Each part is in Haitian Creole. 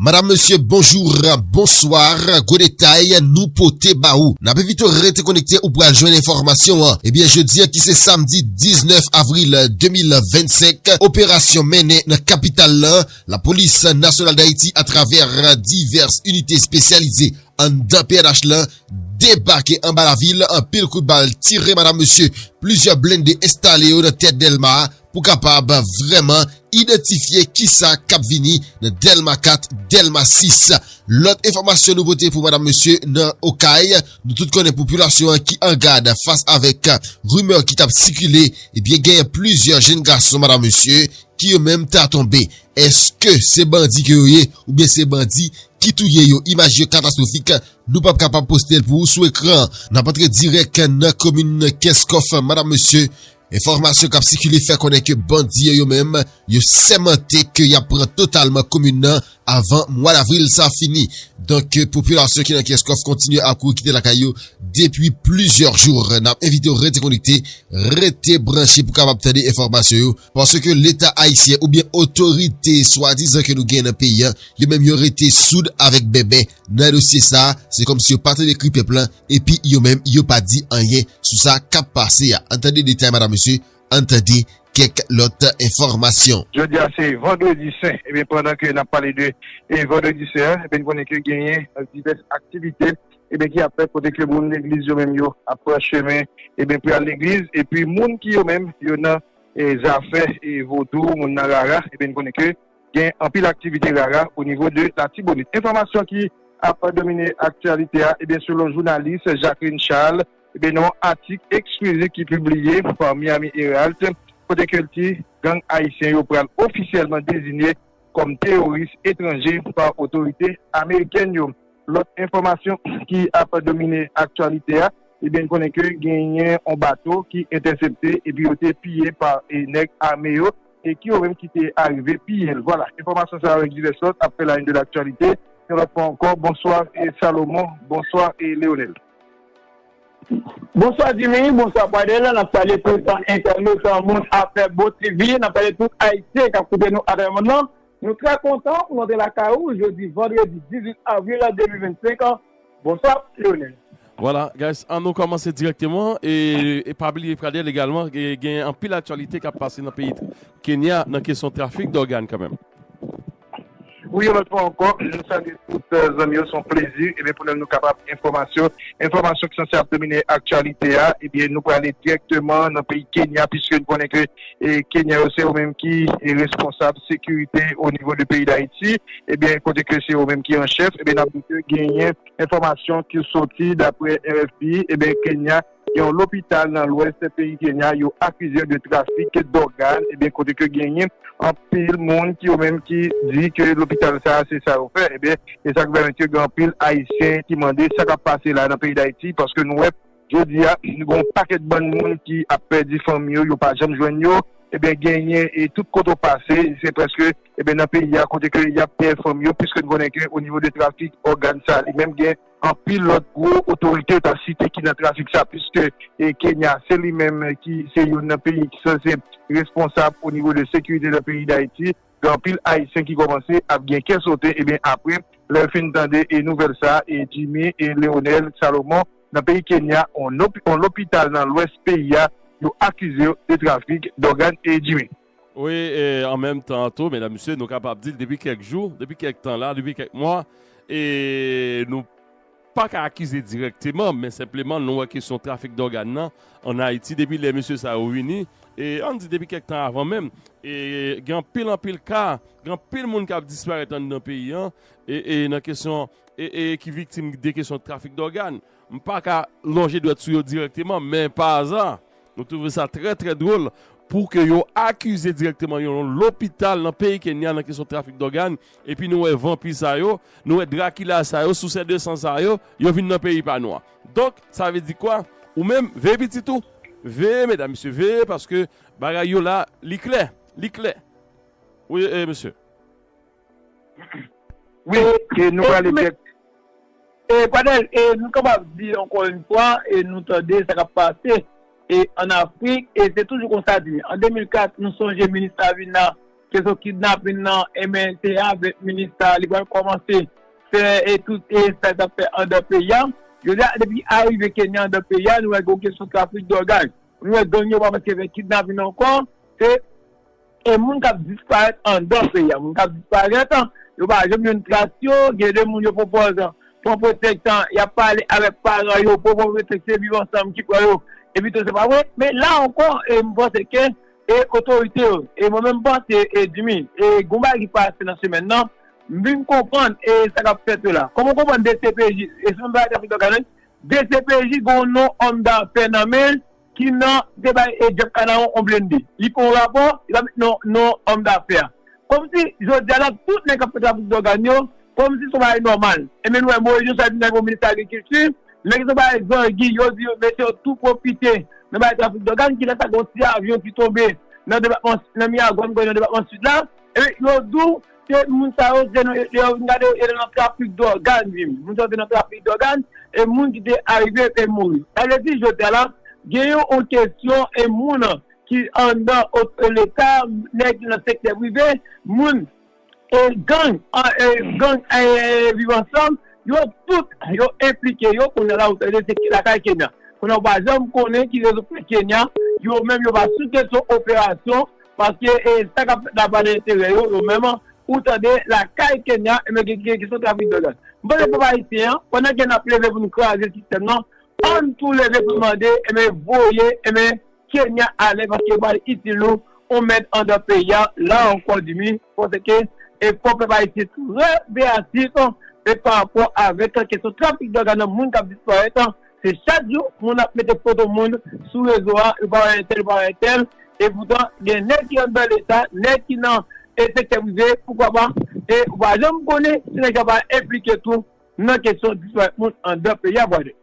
Madam mesye bonjour bonsoir gwo detay nou pote ba ou nap envite w rete konekte ou pral jwenn enfòmasyon an ebyen jodi an ki se samdi 19 avril 2025 operasyon mennen nan kapital lan lapolis nasyonal dayiti atravè divès inite espesyalize anndan pnh lan debake anba lavil anpil kout bal tire madam mesye plizyè blende enstale yo nan tèt delma. pou kapab vrèman idantifye kisa kap vini nan Dèlma 4, Dèlma 6. Lòt enfòmasyon nou pote pou madam mesye nan Okay, nou tout konnen popilasyon an ki an gad fas avèk rimè ki tap sikile, ebyen genyen plizyè jenn gason madam mesye ki yo menm ta tonbe. Eske se bandi ke yo ye oubyen se bandi ki touye yo? Imaj yo katastwofik, nou pap kapab postel pou ou sou ekran. Nap antre dirèk nan komin Kenskòf madam mesye, Enfòmasyon kap sikile fè konnen ke bandi yo yo menm yo sèmante ke yap pran totalman komin nan avan mwa davril sa fini. Donk popilasyon ki nan Kenskòf kontinye ap kouri kite lakay yo depi plizyè jou. Nap envite w rete konekte, rete branche pou kapab tande enfòmasyon yo paske leta ayisyen oubyen otorite swadizan ke nou gen nan peyi an yo menm yo rete soud avèk bèbè. Nan dosye sa, se kòmsi yo pa tande kri pèp lan epi yo menm yo pa di anyen sou sa k ap pase a. Ann tande detay madam mesye, ann tande kèk lòt enfòmasyon. Jodi a se vandredi sen, ebyen pandan ke n ap pale de vandredi sen an, ebyen n konnen ke genyen divès aktivite ebyen ki ap fèt kote ke moun legliz yo menm yo ap pran chemen ebyen pou y al legliz epi moun ki yo menm yo nan zafè vodou, moun nan rara ebyen n konnen ke gen anpil aktivite rara o nivo de Latibonit. Enfòmasyon ki ap domine aktyalite a, ebyen selon jounalis Jacqueline Charles, ebyen nan yon atik eksklizif ki pibliye pa Miami Heralt, kote ke l di gang ayisyen yo pral ofisyèlman dezinye kòm teyoris etranje pa otorite amerikèn yo. Lòt enfòmasyon ki ap domine aktyalite a, ebyen n konnen ke genyen yon bato ki entèsepte epi yo te piye pa nèg ame yo e ki yo menm ki te arive piye l. Vwala, enfòmasyon sa yo ak divès lòt ap fè la une de l'actualité. Yon lòt fwa ankò, bonswa Salomon, bonswa Leonel. Bonswa Jimmy, bonswa Pradel, n ap salye tout entènot Moun Afè Bon TV, n ap salye tout Ayisyen k ap koute nou atravè mond lan. Nou trè kontan pou nou antre lakay ou jodi vandredi 18 avril 2025 an, bonswa Lionel. Voilà guys an nou kòmanse dirèkteman e pa bliye Pradel egalman gen anpil aktyalite kap pase nan peyi Kenya nan kesyon trafik dògàn kanmenm. Wi yon lòt fwa ankò nou salye tout zanmi yo son plezi ebyen pou nou nou kapab enfòmasyon enfòmasyon ki sanse ap domine aktyalite a ebyen nou prale dirèkteman nan peyi Kenya piske nou konnen ke Kenyan yo se yo menm ki responsab sekirite o nivo de peyi Dayiti, ebyen kote ke se yo menm ki an chèf, ebyen nap di ke genyen enfòmasyon ki soti daprè RFI, ebyen Kenya gen yon lopital nan lwès peyi Kenya yo akize yo de trafik dògàn, ebyen kote ke genyen anpil moun ki yo menm ki di ke lopital sa se sa yo fè, ebyen esak vè mèt yo gen anpil ayisyen ki mande sa kap pase la nan peyi Dayiti paske nou wè Jodi a, gen yon pakèt bann moun ki ap pèdi fanmi yo, yo pa janm jwenn yo, ebyen genyen e tout kote w pase, se prèske ebyen nan peyi a kote ke y ap pè fanmi yo, piske n konnen ke onivo de trafik ògàn sa li menm gen anpil lòt gwo otorite w ta site ki nan trafik sa, piske e Kenya se li menm ki se youn nan peyi ki sanse responsab onivo de sekirite nan peyi Dayiti. Gen anpil ayisyen ki kòmanse ap gen kè sote ebyen apre lè yo fin tande nouvèl sa e Jimmy e Leonel Salomon nan peyi Kenya yon lopital nan lwès peyi a yo akize yo de trafik dògàn e Jimmy. Wi e an menm tan an tou medam mesye nou kapab di depi kèk jou depi kèk tan la depi kèk mwa e nou. pa ka akize dirèkteman men senpleman nou wè kesyon trafik dògàn nan an Ayiti depi lè mesye sa yo vini e ann di depi kèk tan avan menm e gen anpil anpil ka gen anpil moun k ap disparèt anndan peyi an e nan kesyon e e ki viktim de kesyon trafik dògàn m pa ka lonje dwèt sou yo dirèkteman men pa aza nou twouve sa trè trè dwòl pou ke yo akize dirèkteman yon lopital nan peyi Kenya nan kesyon trafik dògàn Epi nou wè vanpi sa yo, nou wè drakila sa yo, sousè de san sa yo, yo vin nan peyi pa nou an. Donk, sa vle di kwa? Ou menm, veye pitit ou. Veye, medam, mesye, veye, paske bagay yo la, li klè. Li klè. Wi, e, mesye. Wi, e nou prale dèk. E, Pradèl, e nou kapab di ankò yon fwa, e nou tande sa k ap pase, e, ann Afrik, e se toujou konsa di. An 2004, nou sonje minis Avina. Keson kidnapin nan enben se avek minista li pral komanse fè e tout e sa li tap fè andan peyi a. Jodi a depi arive Kenya andan peyi a nou wè gon keson trafik dwògaj. Nou wè gang yo pa pase vek kidnapin ankò se e moun kap disparèt andan peyi a. Moun kap disparèt yo pa janm jwenn tras yo gen de moun yo pwopòz pran pwetèks yap pale avek paran yo pou yo pran pwetèks se viv ansanm ki pran yo epito se pa vre men la ankò e m panse ke E otorite yo, e mwen menm panse e Jimmy, e gon bagay ki pase nan semèn nan, m vin konprann e sa kap fèt yo la. Kòman w konprann dcpj, e se menm bagay David Dorcas la wi, dcpj gen yon non òm dafè nan men l ki nan, ki te bay e Jeff Canaron yon blende. Li fè yon rapò, li pa met non òm dafè a. Komsi jodi a la tout nèg k ap fè trafik dògàn yo, komsi se yon bagay nòmal. Enben nou wè Moise Josué vin nan yon minis agrikilti, men gen yon bagay zangi yo di yo mesye yo tou pwofite nan bagay trafik dògàn, kilè sa gen yon ti avyon ki tonbe nan depatman nan Miyagwàn m kwè nan depatman Sid la, enben yo di w se moun sa yo se nan lè yo vin gade yo yo te nan trafik dògàn wi, moun sa yo te nan trafik dògàn e moun ki te arive te mouri. Sa vle di jodi a la gen yon kesyon e moun. ki anndan leta, nèg nan sektè prive, moun, gang, gang viv ansanm, yo tout yo enplike yo, kounye a la ou tande se lakay Kenya. Kounye a ou pa janm konnen ki rezon fè Kenya, yo menm yo pa sou kesyon operasyon, paske sa k ap fèt la pa nan enterè yo, yo menm, ou tande lakay Kenya, e men gen kesyon trafik dòg. M panse pèp ayisyen an, pandan ke n ap leve pou nou kraze sistèm nan, ann tou leve pou nou mande, e men voye, e men. Kenya alè paske pral itil ou on mèd andan peyi a la ankò Dimy panse ke efò pèp ayisyen trè veyatif e pa rapò avèk kesyon trafik dòg a nan moun kap disparèt se chak jou moun ap mete foto moun sou rezo a yo pa wè entèl yo pa wè entèl e poutan gen nèg ki andan leta nèg ki nan sektè prive poukwa pa e ou pa janm konnen si nèg sa pa enplike tou nan kesyon disparèt moun andan peyi a brother.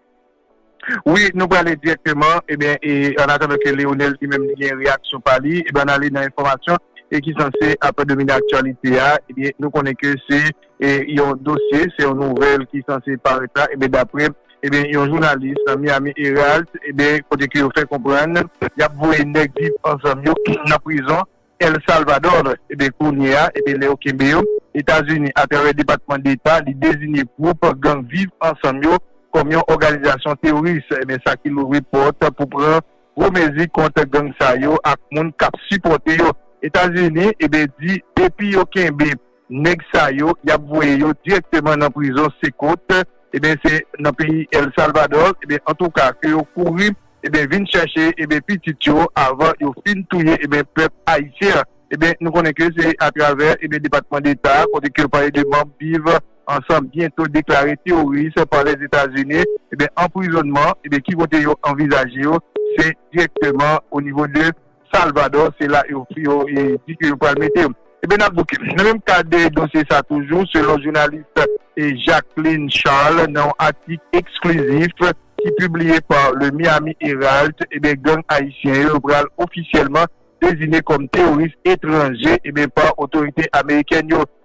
Wi nou prale dirèkteman ebyen e an atandan ke Leonel li menm li gen reyaksyon pa li ebyen ann ale nan enfòmasyon e ki sanse ap domine aktyalite a ebyen nou konnen ke se e yon dosye se yon nouvèl ki sanse parèt la ebyen daprè ebyen yon jounalis nan Miami Herald ebyen kote ke yo fè konprann yap voye nèg viv ansanm yo nan prizon El Salvador, ebyen kounye a, ebyen lè yo kenbe yo, Etazini atravè Depatman Deta li dezinye gwoup gang Viv Ansanm yo kòm yon òganizasyon teworis, ebyen sa ki louvri pòt pou pran gwo mezi kont gang sa yo ak moun kap sipòte yo. Etazini, ebyen di depi yo kenbe Neg sa yo yap voye yo direkteman nan prizon se kot ebyen se nan peyi el salvador ebyen antouka ke yo kouri ebyen vin chache ebyen pitit yo avan yo fin touye ebyen pep ayisyen an ebyen nou konnen ke se atravè ebyen depatman deta kote ke yo pale de manb viv ansanm byento deklare teworis pa les etazini ebyen anprizonman ebyen ki kote yo anvizaje yo se direkteman o nivo de. Salvador se la yo di ke yo pral mete yo. Ebyen nap bouke. Nan menm kad dosye sa toujou selon jounalis Jacqueline Charles nan yon atik eksklizif ki pibliye pa Le Miami Herald ebyen gang ayisyen yo pral ofisyèlman dezigne kòm teworis etranje ebyen pa otorite amerikèn yo.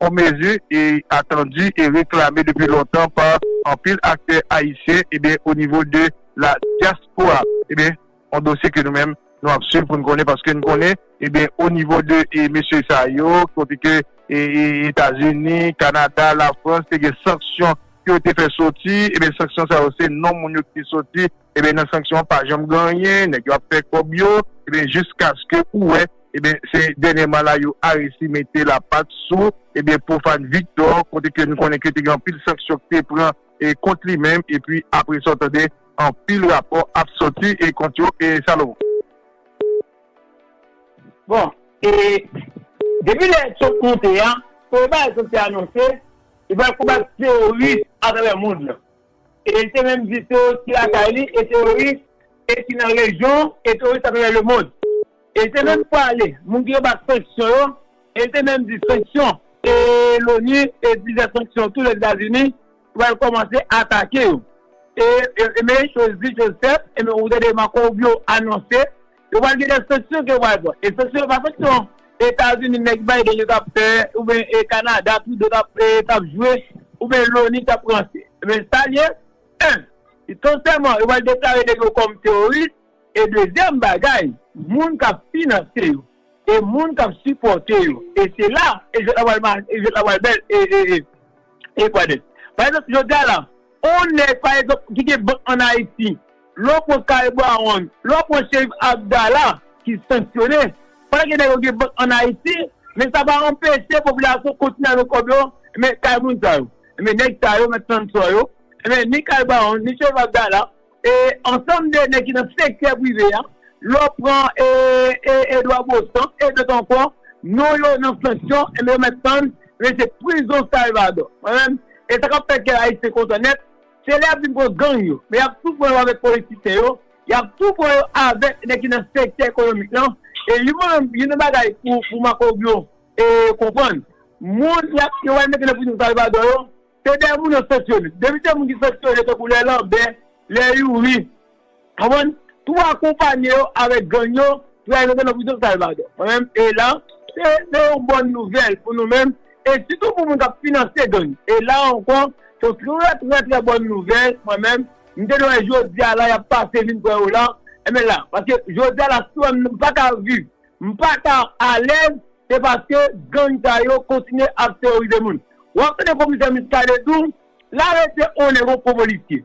on mezi atandi e reklame depi lontan pa anpil aktè ayisyen ebyen o nivo de la dyaspora ebyen on dosye ke nou menm nou ap swiv pou n konnen paske n konnen ebyen o nivo de mesye sa yo kote ke etazini kanada lafrans te gen sanksyon ke yo te fè soti ebyen sanksyon sa yo se non moun yo ki te soti Ebyen nan sanksyon an pa janm gen anyen, nèg yo ap fè kòb yo, ebyen jiskaske ou wè ebyen se dènyèman la yo aresi mete lapat sou ebyen Profane Victor kote ke nou konnen ke te gen anpil sanksyon ki te pran e kont li menm epi apre sa w tande anpil rapò ap sòti e kont yo e Salomon. Bon e depi lè Trump monte a, premye bagay Trump te anonse li pral konbat teworis atravè mond lan. E l te menm di teworis ki lakay li e teworis e ki nan rejyon e teworis atravè lemond. E l te menm pale moun ki anba sanksyon yo e l te menm di sanksyon e loni e plizyè sanksyon tou Lèzetazini pral kòmanse atake yo. E men choz di, choz fèt, e men ou tande Marco Rubio anonse Yo pral gen de sanksyon ke yo pral pran. E sanksyon yo pa sanksyon Etazini nèg Biden yo tap fè oubyen e Kanada Trudeau tap fè tap jwe oubyen Loni tap ranse. Men sa l ye 1. Li tonsèman yo pral deklare nèg yo kòm teworis e dezyèm bagay moun kap finanse yo e moun kap sipòte yo e se la e jwèt la pral ma e jwèt la pral bèl e e e e pral bèl. Pa egzanp jodi a la on nèg pa egzanp ki gen bank an Ayiti. Lè w pran Kay Brown, lè w pran Sherif Abdallah ki sanksyone, pa gen nèg yo gen bank an Ayiti, men sa pa anpeche popilasyon kontinye alo kòb yo men kay moun sa yo. Enben nèg sa yo, mèt Sansò yo, enben ni Kay Brown, ni Sherif Abdallah, e ansanm de nèg ki nan sektè prive a, lè w pran Edouard Beauchamp e dòt ankò, non yo nan sanksyon, enben yo mèt tann, enben se prizon Salvadò. Mwen menm, e sa k ap fè kè Ayisyen kontan nèt, Se lè yap vin pran gang yo, men yap tou pran yo avèk politisyen yo, yap tou pran yo avèk nèg ki nan sektè ekonomik lan, e yon mwen menm, yon nan bagay pou Marco-Rubio konprann, moun yap, yo pral mete nan prizon Salvador yo, se de moun yo sanksyone, depi se moun ki sanksyone tankou lè Lambert, lè Youri. Konprann? Pou akonpanye yo avèk gang yo pou yal mete nan prizon Salvador. Mwen menm e la se se yon bòn nouvèl pou nou menm e sitou pou moun kap finanse gang. E la ankò se yon trè trè trè bòn nouvèl mwen menm m te dwe jodi a la yap pase vin pran yo la enben la paske jodi a la sou m pa ka viv m pa ka alèz se paske gang sa yo kontinye ap teworize moun. Wap tande komisè Muscadin tou la rete one gon gwo polisye.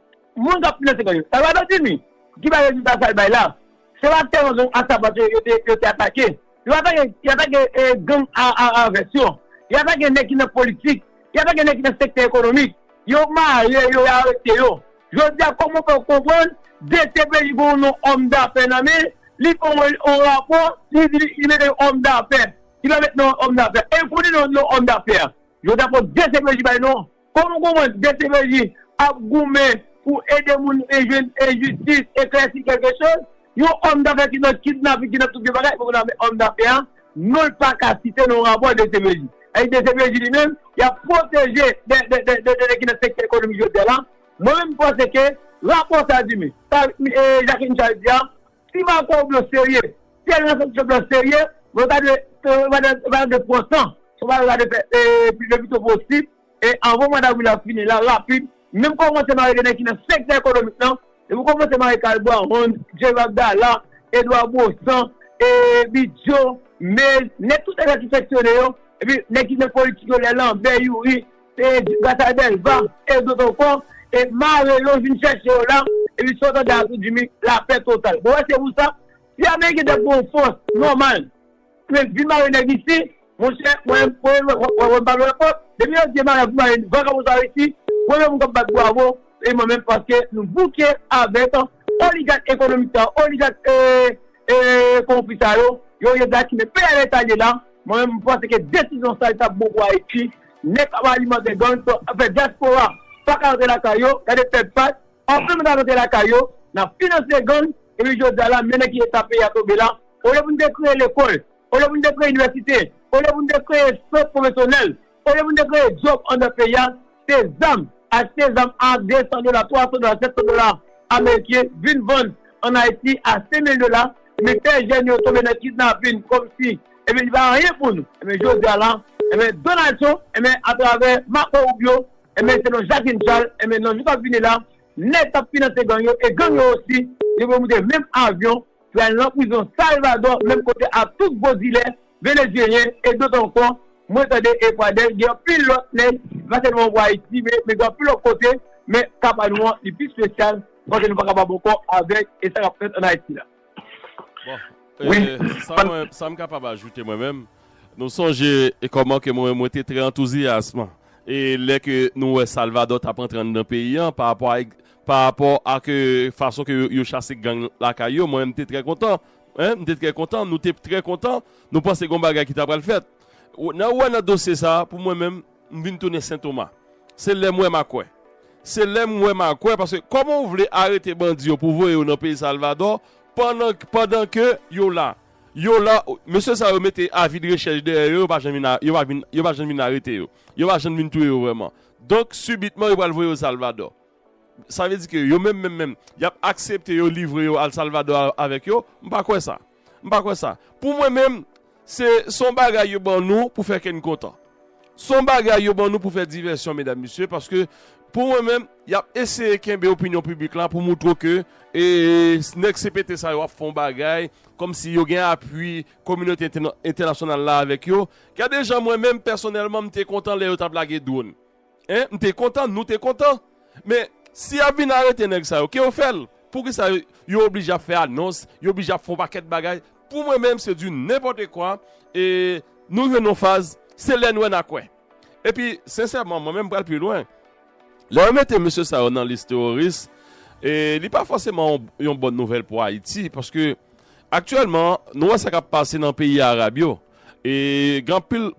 moun k ap finanse gang yo. Salvador Dimy, ki bay rezilta sa l bay la, se yon aktè nan gang Asapat yo, yo te atake. Yo atake gang a vès yo. Yo atake nèg ki nan politik. Yo atake nèg ki nan sektè ekonomik. Yo mare yo, yo arete yo. Jodi a, kòman w fè konprann dcpj gen yon non òm dafè nan men l, li fè yon rapò, li di li mete yon òm dafè. Li pa mete non òm dafè a. E l konnen non òm dafè a. Jodi a, fò dcpj bay non. Kòm goumen dcpj ap goumen pou ede moun e jwenn e jistis e klèsi kèlke choz, yon òm dafè ki nan kidnaping ki nan tout vye bagay poko nan men òm dafè a, non l pa ka site nan yon rapò dcpj. Epi dcpj li menm yap pwoteje de nèg ki nan sektè ekonomik jodia la, mwen menm m panse ke rapò sa di men sa Jacqueline Charles di a, Si Marco Rubio serye, si Elena Santos Trump lan serye, mwen ta dwe, mwen ta dwe, mwen ta dwe pran tan, mwen ta dwe fè e le pito posib, e anvan mwa davril la fini la, rapid, menm kòmanse mare de nèg ki nan sektè ekonomik lan, depi w kòmanse mare Carl Brahon, Jerry Abdala, Edouard Baussan, e Bidjo, Mays, nèg tout nèg sa ki fèksyone yo, epi nèg ki nan politik yo, lè Lambert, Youri. Page Bataille Delva et d'autres encore e mare yo vin chèche yo la epi sa w tande a tou Jimmy lapè total bon wè se pou sa si ameriken te gen yon fòs nòmal pou yo vin mare nèg isi monchè mwen menm premye m wè wè m pa wè kont depi yo di mare pou mare vagabon sa yo isi premye moun k ap bat bwavo se mwen menm paske nou bouke avèk oligat ekonomik sa yo oligat ee konwonpi sa yo yo ye blakimen peyi a lè sa l ye la mwen menm m panse ke desizyon sa l t ap bon pou ayiti Nèg kap alimantè gang sa ap fè diaspora paka rantre lakay yo gade pèp sat anpil moun ka rantre lakay yo nap finanse gang epi jodia la men nan ki eta peyi a tonbe la olye poun te kreye lekòl olye poun te kreye inivèsite olye poun te kreye sant pwofesyonèl olye poun te kreye djòb andan peyi a se zam achte zam a 200 dola 300 dola 700 dola ameriken vin vann an ayiti a 5000 dola men fè jèn yo tonbe nan kidnapin kòmsi Ebyen li pa anyen pou nou. Ebyen jodi a la, ebyen Donald Trump, ebyen a travè Marco Rubio, ebyen selon Jacqueline Charles, ebyen nan jou kap vini la, nèg kap finanse gang yo, e gang yo osi, yo pral moute menm avyon, pral nan prizon Salvador, menm kote ak tout gwo dilè Venezyelyen e dot ankò. Mwen tande e Pradel gen anpil lòt nèg, pa sèlman pou Ayiti, men gen anpil lòt kote, men ka pa nou an li pi spesyal, paske nou pa kapab ankò avèk e sa kap fèt an Ayiti la. Sa m kapab ajoute mwen menm, nou sonje kòman ke mwen mwen te trè antouzyasman e lè ke nou wè Salvadò t ap antre anndan peyi an pa rapò ak pa rapò ak fason ke yo chase gang lakay yo mwen menm m te trè kontan m te trè kontan nou te trè kontan nou panse gen yon bagay ki ta pral fèt nan wè nan dosye sa pou mwen menm. M vin tounen sentoma. Se lèm wè ma kwè. Se lèm wè ma kwè paske kòman ou vle arete bandi yo pou voye yo nan peyi Salvadò pandan pandan ke yo la. Yo la mesye sa yo mete avi de rechèch dèyè yo yo pa jann vin yo pa vin yo pa jann vin arete yo. Yo pa jann vin touye yo vrèman. Donk sibitman yo pral voye yo Salvadò. Sa vle di ke yo menm menm menm yap aksepte yo livre yo al Salvadò avèk yo? M pa kwè sa. M pa kwè sa. Pou mwen menm, se s on bagay yo ban nou pou fè kè n kontan. S on bagay yo ban nou pou fè divèsyon medam mesye paske pou mwen menm y ap eseye kenbe opinyon piblik la pou moutre w ke nèg CPT sa yo ap fè yon bagay kòm si yo gen apui kominote entènasyonal la avèk yo. Gade jan mwen menm pèsonèlman m te kontan lè yo t ap lage dwòn. Hein m te kontan nou te kontan men si yap vin arete nèg sa yo ke yo fèl poukisa yo oblije ap fè anons yo oblije ap fè yon pakèt bagay pou mwen menm se du nenpòte kwa e nou jwenn yon faz se lè n wè na kwè epi sensèman mwen menm m pral pi lwen lè yo mete mesye sa yo nan lis teworis e li pa fòseman yon bòn nouvèl pou ayiti paske aktyèlman nou wè sa kap pase nan peyi arab yo e gen anpil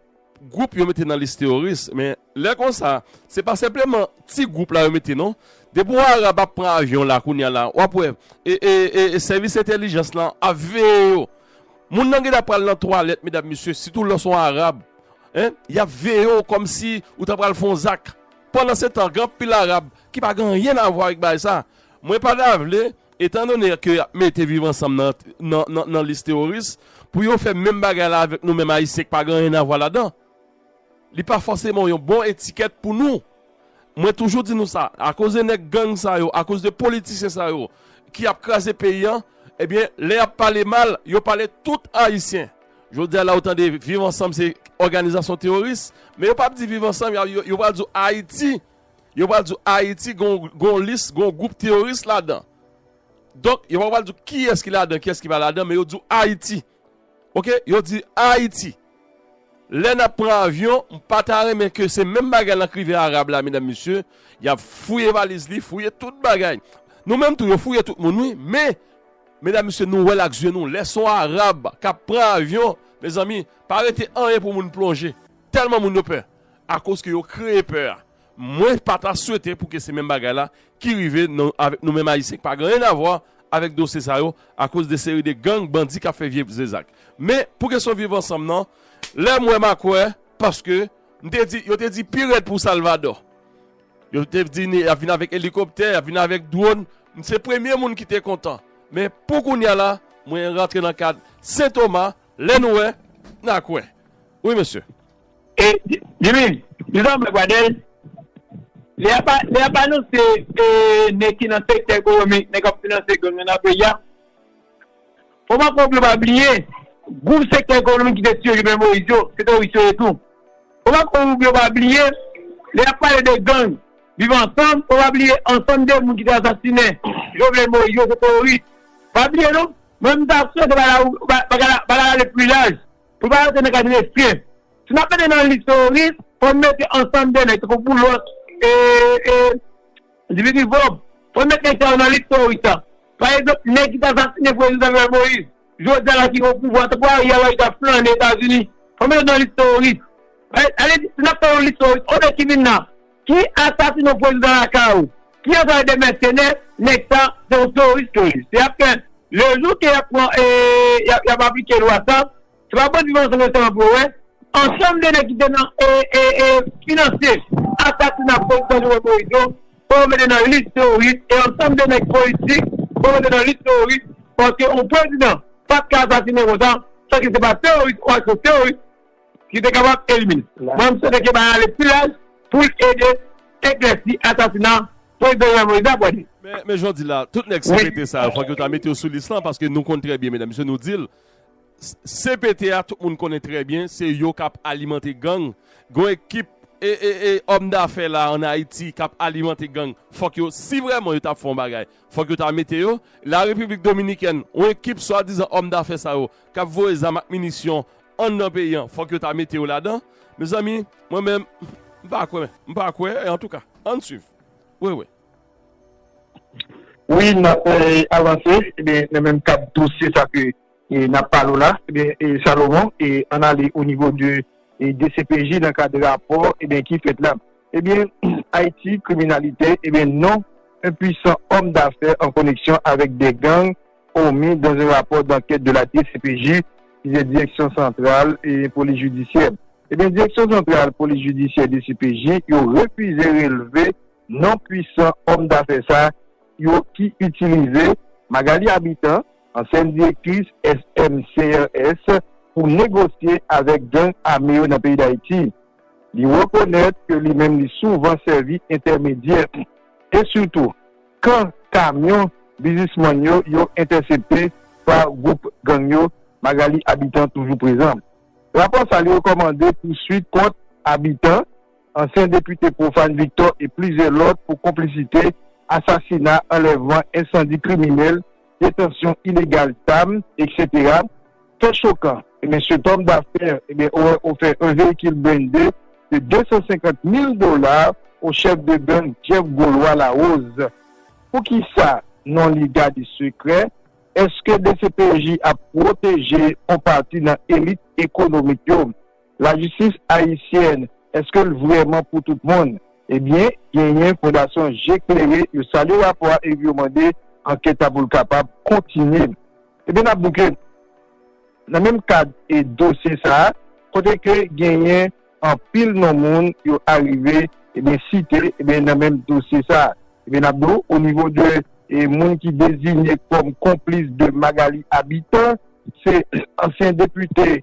Gwoup yo mete nan lis teworis, men lè konsa, se pa senpleman ti gwoup la yo mete non. Depi w Arab ap pran avyon la kounya la, w ap wè sèvis entèlijans lan ap veye yo. Moun nan gentan pral nan twalèt medam mesye, sitou lè w se yon Arab. Y ap veye w kòmsi ou ta pral fè yon zak. Pandansetan, gen anpil Arab ki pa gen anyen avwa avèk bagay sa. Mwen pa ta vle. Etan done ke y ap mete Viv Ansanm nan lis teworis, pou yo fè menm bagay la avèk nou menm Ayisyen k pa gen anyen avwa ladan, li pa fòseman yon bon etikèt pou nou. Mwen toujou di nou sa, akoz de nèg gang sa yo, akoz de politisyen sa yo ki ap kraze peyi an, ebyen lè y ap pale mal, yo pale tout Ayisyen. Jodi a la ou tande Viv Ansanm se òganizasyon teworis, men yo p ap di Viv Ansanm, yo pral di w Ayiti Yo pral di w Ayiti gen yon lis, gen yon gwoup teyoris ladan. Donk, yo pa pral di w kiyès ki ladan, kiyès ki pa ladan, men yo di w Ayiti. Ok, yo di Ayiti. Lè n ap pran avyon, m pa ta renmen ke se menm bagay lan k rive Arab la, medam mesye, y ap fouye valiz li, fouye tout bagay. Nou menm tou, yo fouye tout moun wi, men, medam mesye, nou wè l ak zye nou. Lè s on Arab k ap pran avyon, mezanmi, pa rete anyen pou moun plonje. Tèlman moun yo pè. akoz ke yo kreye pè a. Mwen pa ta swete pou ke se menm bagay la ki rive avèk nou menm Ayisyen ki pa gen anyen avwa avèk dosye sa yo akoz de seri de gang, bandi kap fè vye zak. Men pou kesyon viv ansanm nan, lè m wè ma kwè paske m te di, yo te di pi rèd pou Salvadò. Yo te di ni yap vin avèk elikoptè, yap vin avèk dwòn, m se premye moun ki te kontan. Men pou kounya la, mwen rantre nan kad Sen Toma, lè nou wè, na kwè. Wi mesye. E Jimmy, li pa yon blag Pradel? Lè yap lè yap anonse e nèg ki nan sektè ekonomik, nèg kap finanse gang yo nan peyi a, fò map fò pou yo pa bliye gwoup sektè ekonomik ki te tiye Jovenel Moïse yo, se teworis yo ye tou. Fò map fò pou yo pa bliye lè yap pale de gang viv ansanm, fò pa bliye ansanm de moun ki te asasine Jovenel Moïse yo se teworis. Pa bliye non, mwen menm sa ap swete bagay la bagay la ale pli laj. Pou pa rete nan kad restren. Si nap mete nan lis teworis, fòn mete ansanm de nèg tankou Boulos e Dimitri Vorb. Fòn met nèg sa yo nan lis teworis la. Pa egzanp, nèg ki t asasinen prezidan Jovenel Moïse, jodi a la ki opouvwa tankou Ariel Henry kap flane Etazini. Fòn met yo nan lis teworis. Ale di, si nap fè yon lis teworis, o de ki vin nan. Ki asasin yon prezidan lakay ou? Ki anplwaye de mèsenè? Nèg sa se yon teworis ke li. Se ap fè le jou ke yap pran e yap aplike lwa sa, se pa bandi viv ansanm yo sèlman pou yo wè. Ansanm de nèg ki te nan e e finanse asasina prezidan Jovenel Moïse yo fò yo mete nan lis teworis e ansanm de nèg politik fò yo mete nan lis teworis paske yon prezidan pat ka asasine konsa san ke se pa teworis ou ak yon teworis ki te kapab elimine. Mwen m swete Keba ale pi laj pou l ede eklèsi asasina Prezidan Jovenel Moïse la, Bwade. Men jodi la, tout nèg CPT sa yo fòk yo ta mete yo sou lis lan paske nou konn trè byen medam mesye nou di l CPT a tout moun konnen trè byen se yo k ap alimante gang gon ekip òm dafè la an Ayiti k ap alimante gang fòk yo si vrèman yo t ap fè yon bagay fòk yo ta mete yo la Repiblik Dominikèn yon ekip swadizan òm dafè sa yo k ap voye zam ak minisyon an nan peyi an fòk yo ta mete yo ladan mezanmi mwen menm m pa kwè m pa kwè antouka ann swiv wi wi. Wi nap avanse ebyen nan menm kad dosye sa ke nap pale w la ebyen Salomon ann ale o nivo de dcpj nan kad rapò ebyen ki fèt la ebyen Ayiti kriminalite ebyen non enpuisan òm dafè an koneksyon avèk de gang Hormis dans un rapport d'enquête de la DCPJ, ki se Direksyon Santral Polis Jidisyè. Ebyen Direksyon Santral Polis Jidisyè, DCPJ, yo refize relve non pwisan òm dafè sa yo ki itilize Magalie Habitant, ansyèn direktris SMCRS, pou negosye avèk gang ame yo nan peyi Dayiti. Li rekonèt ke li menm li souvan sèvi entèmedyè e sitou. kan kamyon bizismann yo yo entèsepte pa gwoup gang yo, Magalie Habitant toujou prezan. Rapò sa li rekòmande pouswit kont Habitant, ansyen depite Prophane Victor e plizyè lòt pou konplisite, asasina, anlèvman, ensandi kriminèl, detansyon ilegal zam, eksetera. Fè chokan, ebyen se tòm dafè, ebyen ou wè ou fè 1 veyikil blende de 250 mil dola o chèf de gang Jeff Golois Larose. Poukisa non li gade sekrè? Eske dcpj ap pwoteje on pati nan elit ekonomik yo? Lajistis ayisyèn, èske l vrèman pou tout moun? Ebyen, genyen Fondasyon Je Klere, yo salye rapò a epi yo mande ankèt la pou l kapab kontinye. Ebyen n ap di w ke nan menm kad e dosye sa a, kote ke genyen anpil non moun yo arive ebyen site ebyen nan menm dosye sa a, ebyen n ap di w o nivo de moun ki dezinye kòm konplis de Magalie Habitant, se ansyen depite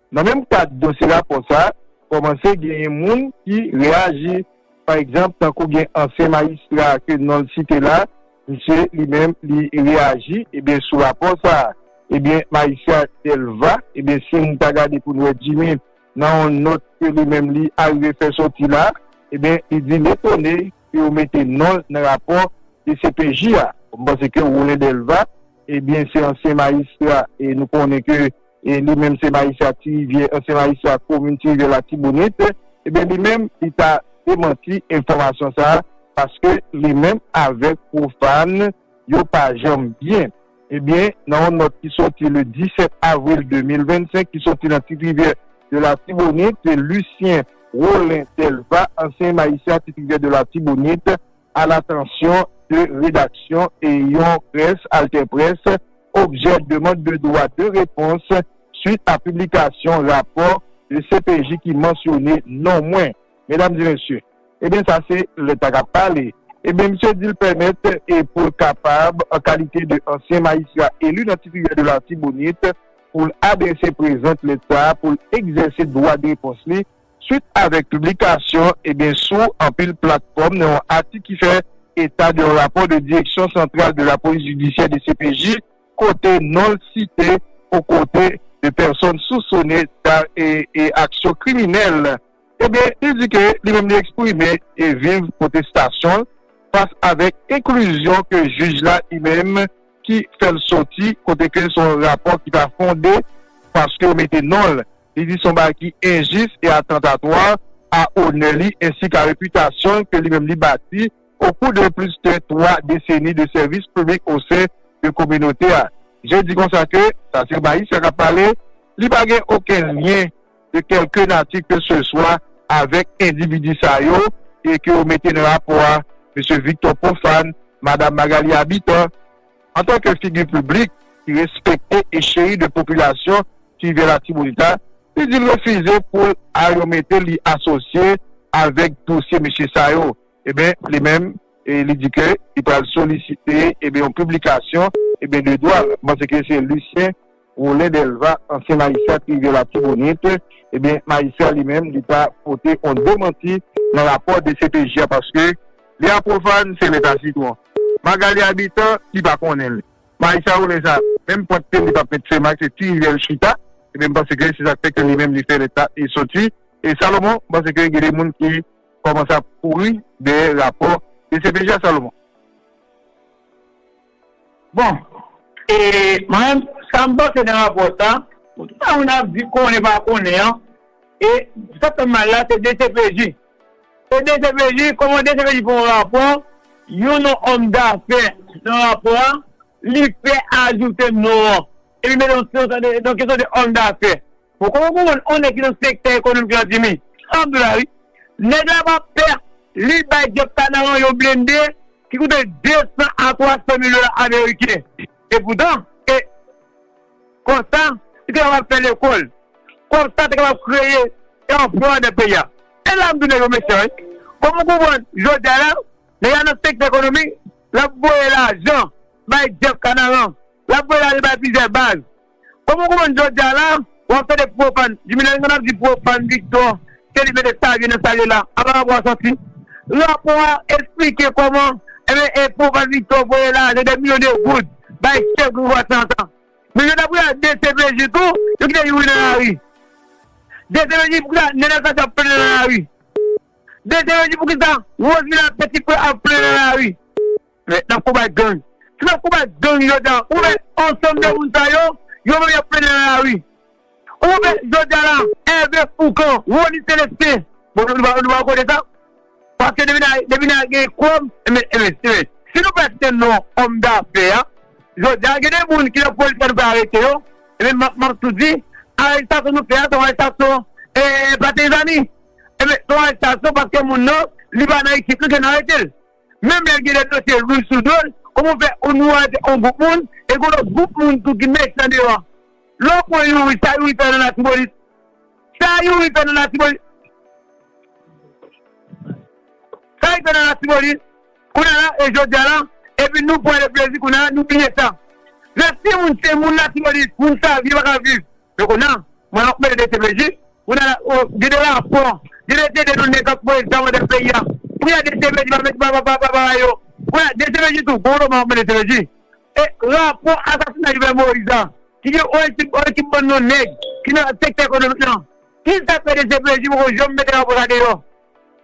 Nan menm kad dosye rapò sa, kòmanse genyen moun ki reyaji. Pa egzanp, tankou gen ansyen majistra ke non l site la, misye li menm li reyaji ebyen sou rapò sa. Ebyen majistra Delva, ebyen si n ta gade pou n wè Jimmy nan yon nòt ke li menm li arive fè sòti la, ebyen li di l etone ke yo mete non l nan rapò dcpj a. M panse ke Rolen Delva, ebyen se ansyen majistra e nou konnen ke li menm se Maisha ak Ti Rivyè, ansyen Maisha ak komin Ti Rivyè Latibonit, ebyen li menm li ta demanti enfòmasyon sa a paske li menm avèk Profane yo pa janm byen. Ebyen nan yon nòt ki sòti le 17 avril 2025 ki sòti nan Ti Rivyè de Latibonit, Lucien Rolin Delva, ansyen Maisha Ti Rivyè de Latibonit, alatansyon de redaksyon e yon près, AlterPresse, objè demand de dwa de repons swit a piblikasyon rapò de cpj ki mansyone non mwen. Medam e mesye, ebyen sa se lèt la k ap pale. Ebyen misye di l pèmèt e pou l kapab, an kalite de ansyen majistra eli nan Tiriyè de Latibonit, pou l adrese prezant lèt sa a pou l egzèse dwa de repons li swit avèk piblikasyon ebyen sou anpil platfòm nan yon atik ki fè eta de yon rapò de Direction Centrale de la Police Judiciaire, dcpj, kote non l site o kote de pèsòn sousone da e aksyon kriminèl ebyen li di ke li menm li eksprime e viv pwotestasyon l fas avèk enklizyon ke jij la li menm ki fè l soti kote ke se yon rapò ki pa fonde paske yo mete non l. Li di son bagay ki enjis e atantatwa a onè li ensi ka repitasyon l ke li menm li bati o kou de plis ke 3 deseni de sèvis piblik o sen de kominote a. Je di konsa ke, sa se Baissa kap pale, li pa gen oken lyen de kelke nati ke se swa avèk endividi sa yo e ke yo mete nan rapò a, Mesye Victor Prophane, Madam Magalie Habitant, Antan ke figi piblik ki respekte e cheri de popilasyon ki viv Latibonit la, li di l refize pou l a yon mete li asosye avèk dosye mesye sa yo. Eben, li menm, li di ke li pral solisite, eben, yon piblikasyon, eben, de dwa l. M panse ke se Lucien. Rolin Delva, ansyen majistrat rivyè Latibonit, ebyen majistra li menm li ta pote on demanti nan rapò dcpj a paske li a profane se leta sitron. Magalie Habitant ki pa konnen li. Majistra Rolin sa menm pwent pye l li pap met fè mak se ti rivyè l chita ebyen m panse ke se sak fè ke li menm li fè lèt la e soti e Salomon m panse ke gen de moun ki kòmanse ap kouri dèyè rapò dcpj a Salomon. Bon e mwen sa m panse nan rapò sa, pou tout sa moun ap di konnen pa konnen an, e sa k fè m mal la se dcpj. Se dcpj, kòman dcpj fè yon rapò, yon non òm dafè nan rapò a, li fè ajoute non an, epi mete yon ti non, se yon kesyon de òm dafè. Bon koman pou moun on nèg ki nan sektè ekonomik lan di mi san dola wi nèg la pa pè li bay Jeff Canaan yon blende ki koute 200 a 300 mil dola ameriken e poutan e konsa li te kapab fè lekòl konsa te kapab kreye anplwa andan peyi a e la m di nèg yo mechan wi kòm ou konprann jodi a la nèg la nan sektè ekonomik lap voye lajan bay Jeff Canaan lap voye lajan bay plizyè baz. Kòman ou konprann jodi a la ou ap tande pwopann jimi lè moun ap di pwopann viktò se li mete savyen nan sal ye la apa rapò a sòti rapò a esplike kòman enben e pwopann viktò voye lajan dè milyon de goud bay chèf gang vwa santan men jodi a pou yal dcpj tou yo kite youri nan lari dcpj poukisa nenel cassy ap plenyen nan lari dcpj poukisa rose milaprès ti frè ap plenyen nan lari. Mèt nan konbat gang. Se nan konbat gang yo ta ou wè ansanm de moun sa yo, yo menm yap plede nan lari. Ou wè jodia la Hervé Fourcand, Rony Celestin, bon nou pa wè kote sa, paske depi nan depi nan gen kòb enben enben enben si nou pa site non òm dafè a jodia gen de moun ki nan polis la nou pa arete yo enben map map tou di arestasyon nou fè a se yon arestasyon e pa tezanmi enben se yon arestasyon paske moun nan li pa nan ekip nou ke nou aretel. Menm lè l gen de dosye lou sou do l, kòman w fè yon nou arete yon gwoup moun e gen yon lòt gwoup moun tou ki mechan deyò an? Lè w pran Youri, sa Youri fè nan Latibonit? Sa Youri fè nan Latibonit? Sa li fè nan Latibonit? Kounye a la e jodi a la, epi nou pran le plezi kounye a nou bliye sa. Lè timoun se moun Latibonit, moun sa vye pa ka viv. E kounya mwen ap mele dcpj kounya la oh gede lapon gede tete nou nèg kap voye zam andan peyi a kounya dcpj pa met baba pa baba yo kounya dcpj tou gwo lo mwen ap mele dcpj e rapò asasina jovenel moïse a ki gen on ekip on ekip bann non nèg ki nan sektè ekonomik lan kisa fè dcpj poko janm mete rapò sa deyò.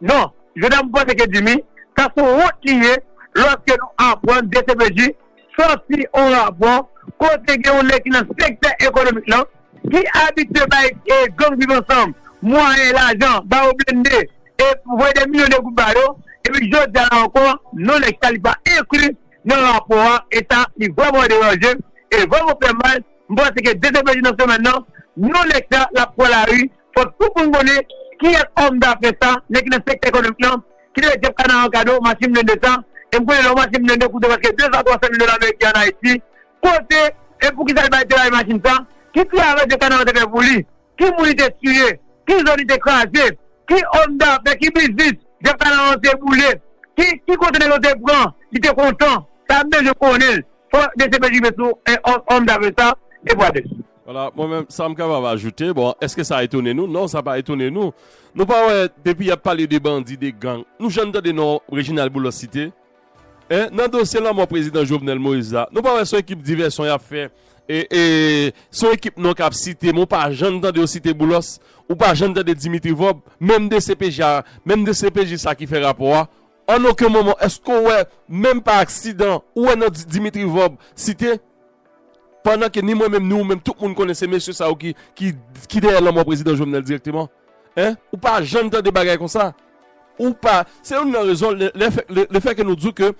Non, je n'aime pas ce que tu mis, sa son wont li ye lòske nou aprann dcpj sòti on rapò kote gen yon nèg ki nan sektè ekonomik lan ki abitye bay gang Viv Ansanm mwayen, lajan, ba yo blende e voye dè milyon de goud ba yo epi jodi a la ankò non nèg sa li pa enkli nan rapò a e sa li vrèman deranje m e vrèman fè m mal, m panse ke dcpj nan semèn nan non nèg sa l'ap pran lari. Fòk tout moun konnen kiyès òm dafè sa, nèg ki nan sektè ekonomik lan, ki te bay Jeff Canaan kado machin blende sa. E m konnen lè yon machin blende koute prèske 200 a 300 mil dola meriken an Ayiti, kote e pou ki sa li bay te bay machin sa, ki travay Jeff Canaan te fè pou li, ki moun li te tiye, ki zòn li te kraze, ki òm dafè, ki biznis Jeff Canaan te boule, ki kote nèg yo te pran, li te kontan. Sa m bezwen konnen l. Fòk dcpj rive sou òm dafè sa, Jeff Waters. Wala, mwen menm sa m kapab ajoute, bon eske sa etone nou, non sa pa etone nou. Nou pa wè depi y ap pale de bandi, de gang, nou jann tande non Reginald Boulos site? Hein, nan dosye lanmò prezidan Jovenel Moïse la, nou pa wè son ekip divèsyon y ap fè, e son ekip non k ap site men w pa jann tande yo site Boulos, ou pa jann tande Dimitri Vorbe, menm dcpj a, menm dcpj sa ki fè rapò a, An oken moman èske w wè, menm pa aksidan, ou wè non Dimitri Vorbe site? Pandan ke ni mwen menm ni ou menm tout moun konnen se mesye sa yo ki dèyè lanmò Prezidan Jovenel dirèkteman. Hein? Ou pa janm tande bagay konsa? Ou pa, se youn nan rezon le fè ke nou di w ke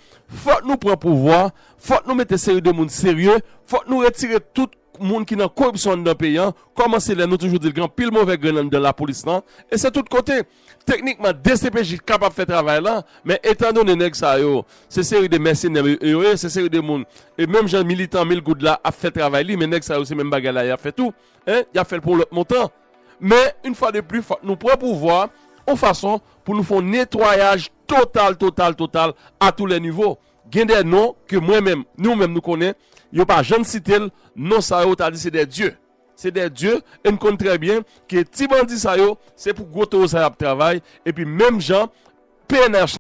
fòk nou pran pouvwa, fòk nou mete seri de moun serye, fòk nou retire tout moun ki nan koripsyon anndan peyi an, kòmanse lè nou toujou di l gen anpil movè grenn anndan lapolis lan, e se tout kote. Teknikman dcpj kapab fè travay lan men etan done nèg sa yo se seri de mèsenè yo ye se seri de moun e menm jan militan mil goud la ap fè travay li men nèg sa yo se menm bagay la yap fè tou en yap fèl pou yon lòt montan men yn fwa de pli fòk nou pran pouvwa yon fason pou nou fè yon netwayaj total total total a tou lè nivo gen dè non ke mwen menm nou menm nou konnen yo pa jann sitel non sa yo ta di se dè dye. Se dè Dieu e n konn trè byen ke ti bandi sa yo se pou gwo towo sa y ap travay epi menm jan pnh